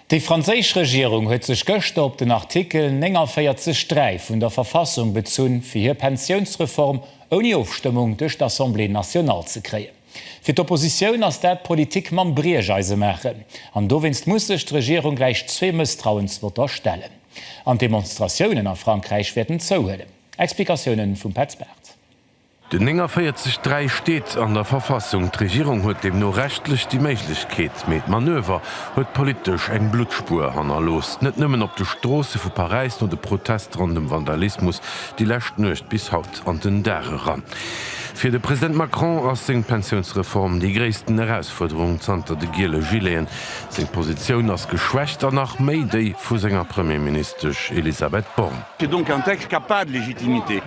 Déi franséisch Regierung huet sech gëschter op den Artikel 49 3 vun der Verfassung bezunn, fir hir Pensiounsreform ouni Ofstëmmung duerch d'Assemblée nationale ze kréien. Fir d'Oppositioun ass dat Politik mam Briecheise maachen, an dowéinst muss sech d'Regierung gläich zwee Mësstrauensvotter stellen. An d'Demonstratiounen a Frankräich wäerten zouhuelen. Explikatiounen vum Petz Barth. Den 49 3 steet an der Verfassung. D'Regierung huet deemno rechtlech déi Méiglechkeet, mee d'Manöver huet politesch eng Bluttspuer hannerlooss, net nëmmen op de Stroosse vu Paräis no de Protest ronn dem Vandalismus déi lescht Nuecht bis haut an den Dag eran. Fir de President Macron ass seng Pensiounsreform déi gréissten Erausfuerderung zanter de giele Gileten. Seng Positioun ass geschwächt an nach méi déi vu senger Premierministesch Elisabeth Borne. C'est donc un texte qui a pas de légitimité.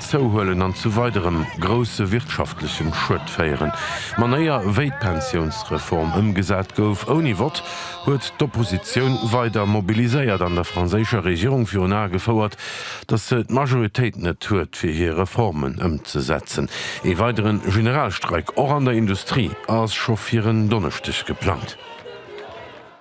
zouhuelen an zu weiderem grousse wirtschaftlechen Schued féieren. D'Manéier wéi d'Pensiounsreform ëmgesat gouf ouni Vott huet d'Oppositioun weider mobiliséiert an der franséischer Regierung virun Ae gefouert, datt se d'Majoritéit net huet fir hir Reformen ëmzesetzen. Ee weidere Generalstreik, och an der Industrie, ass scho fir en Donneschdeg geplangt.